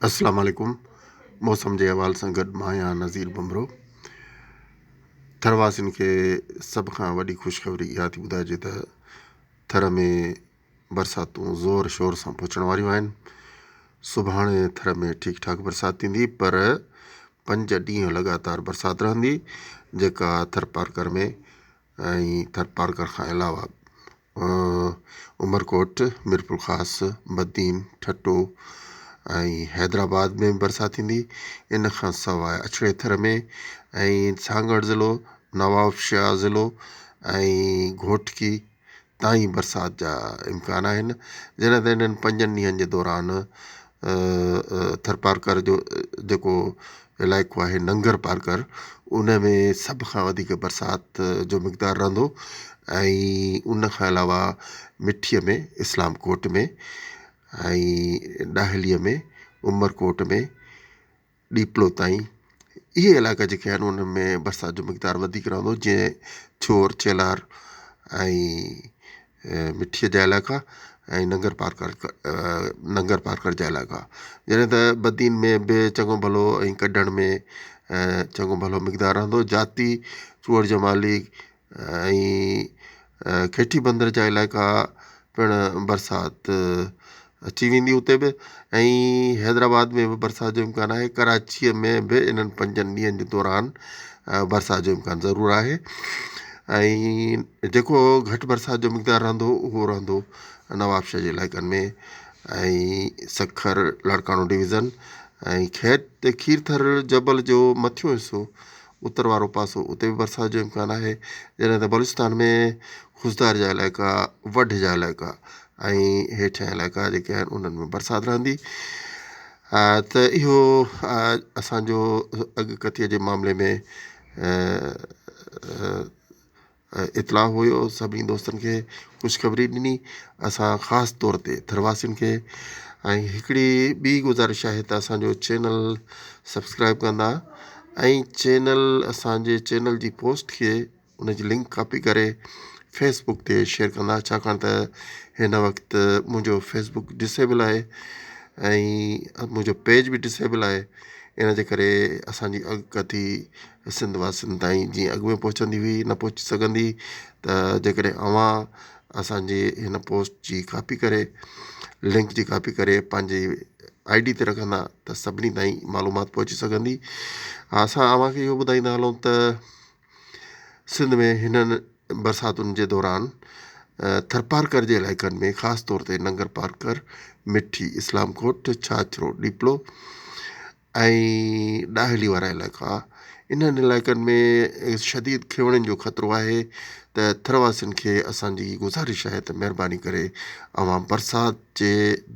السلام عليڪم موسم جي احوال سان گڏ مان آهيان نظير ڀنڀرو ٿر واسين کي سڀ کان وڏي خوشخبري اها ٿي ٻڌائجي ته ٿر ۾ برساتون زور شور سان پهچڻ واريون آهن سڀاڻي ٿر ۾ ٺيڪ ٺاڪ برسات ٿيندي پر پنج ڏينهن لڳاتار برسات رهندي جيڪا ٿر پارڪر ۾ ۽ ٿر پارڪر کان علاوه عمرڪوٽ، ميرپورخاص، بدين، ٺٽو ۽ حيدرآباد ۾ به برسات ٿيندي. ان کان سواء اڇڙي ٿر ۾ ۽ سانگهڙ ضلعو، نوابشاهه ضلعو ۽ گهوٽڪي تائين برسات جا امڪان آهن. جڏهن ته انهن پنجن ڏينهن جي دوران ٿرپارڪر جو جيڪو علائقو آهي ننگر پارڪر ان ۾ سڀ کان وڌيڪ برسات جو مقدار رهندو ۽ ان کان علاوه مٺي ۾ اسلام ڪوٽ ۾ ۽ ڏاهلي ۾ عمر ڪوٽ ۾ ڏيپلو تائين اهي علائقا جيڪي آهن ان ۾ برسات جو مقدار وڌيڪ رهندو جيئن ٿيور چيلار ۽ مٺيء جا علائقا ۽ ننگر پارڪر ننگر پارڪر جا علائقا جڏهن ته بدين ۾ به چڱو ڀلو ۽ ڪڍڻ ۾ چڱو ڀلو مقدار رهندو هو جاتي چوهڙ جمالي ۽ کيٺي بندر جا علائقا پڻ برسات اچي ويندي اتي به ۽ حيدرآباد ۾ به برسات جو امڪان آهي ڪراچيء ۾ به انهن پنجن ڏينهن جي دوران برسات جو امڪان ضرور آهي ۽ جيڪو گهٽ برسات جو مقدار رهندو اهو رهندو نوابشاهه جي علائقن ۾ ۽ سکر لاڙڪاڻو ڊويزن ۽ کيت کير ٿر جبل جو مٿيون حصو اتر وارو پاسو اتي به برسات جو امڪان آهي جڏهن ته بلوچستان ۾ خضدار جا علائقا وڍ جا علائقا ۽ هيٺيان علائقا جيڪي آهن انهن ۾ برسات رهندي ته اهو اسانجو اڳڪٿي جي معاملي ۾ اطلاع هيو سڀني دوستن کي خوشخبري ڏني اسان خاص طور تي ٿر واسين کي ۽ هڪڙي ٻي گذارش آهي ته اسانجو چينل سبسڪرائب ڪندا ۽ چينل اسانجي چينل جي پوسٽ کي ان جي لنڪ ڪاپي ڪري فيس بڪ تي شيئر ڪندا ڇاڪاڻ ته هن وقت منهنجو فيس بڪ ڊسيبل آهي ۽ منهنجو پيج به ڊسيبل آهي ان جي ڪري اسانجي اڳڪٿي سنڌ واسين تائين جيئن اڳ ۾ پهچندي هئي نه پهچي سگهندي ته جيڪڏهن اوهان اسانجي هن پوسٽ جي ڪاپي ڪري لنڪ جي ڪاپي ڪري پنهنجي آئي ڊي تي رکندا ته سڀني تائين معلومات پهچي سگهندي اسان اوهانکي اهو ٻڌائيندا هلون ته سنڌ ۾ هنن برساتن جي دوران ٿرپارڪر جي علائقن ۾ خاص طور تي ننگرپارڪر مٺي اسلام ڪوٽ ڇاڇرو ڏيپلو ۽ ڏاهلي وارا علائقا انهن علائقن ۾ شديد کيوڙن جو خطرو آهي ته ٿر واسين کي اسانجي گذارش آهي ته مهرباني ڪري اوهان برسات جي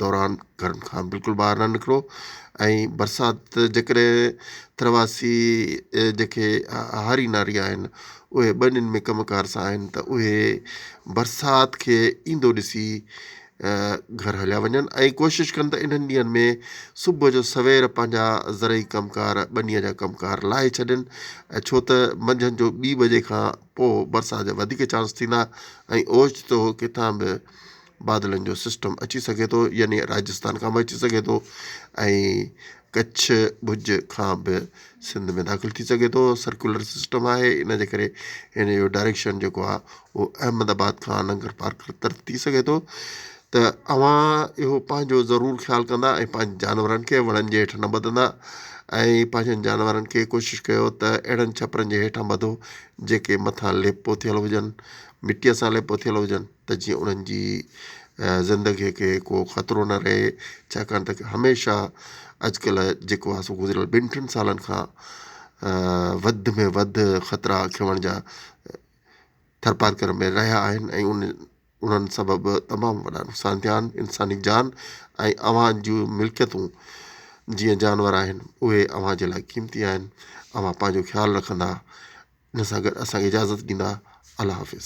دوران گهرن کان بلڪل ٻاهر نه نڪرو ۽ برسات جيڪڏهن ٿر واسي جيڪي هاري ناري آهن اهي ٻنين ۾ ڪم ڪار سان آهن ته اهي برسات کي ايندو ڏسي گهر هليا وڃن ۽ ڪوشش ڪن ته انهن ڏينهن ۾ صبح جو سوير پنهنجا زرعي ڪم ڪار ٻنيء جا ڪم ڪار لاهي ڇڏين ڇو ته منجهند جو ٻي بجي کان پوء برسات جا وڌيڪ چانس ٿيندا ۽ اوچتو ڪٿان به بادلن جو سسٽم اچي سگهي ٿو يعني راجستان کان به اچي سگهي ٿو ۽ ڪڇ ڀڄ کان به سنڌ ۾ داخل ٿي سگهي ٿو سرڪيولر سسٽم آهي ان جي ڪري ان جو ڊائريڪشن جيڪو آهي اهو احمد آباد کان ننگر پارڪر طرف ٿي سگهي ٿو ته اوهان اهو پنهنجو ضرور خيال ڪندا ۽ پنهنجي جانورن کي وڻن جي هيٺ نه ٻڌندا ۽ پنهنجن جانورن کي ڪوشش ڪيو ته اهڙن ڇپرن جي هيٺان ٻڌو جيڪي مٿان ليپو ٿيل هجن مٽيء سان ليپو ٿيل هجن ته جيئن انهن جي زندگيء کي ڪو خطرو نه رهي ڇاڪاڻ ته هميشه اڄڪلهه جيڪو آهي سو گذريل ٻن ٽن سالن کان وڌ ۾ وڌ خطرا کيوڻ جا ٿرپارڪر ۾ رهيا آهن ۽ انهن سبب تمام وڏا نقصان ٿيا آهن انساني جان ۽ اوهان جي ملڪيتون جيئن جانور آهن اهي اوهان جي لاء قيمتي آهن اوهان پنهنجو خيال رکندا ان سان گڏ اسان کي اجازت ڏيندا الله حافظ.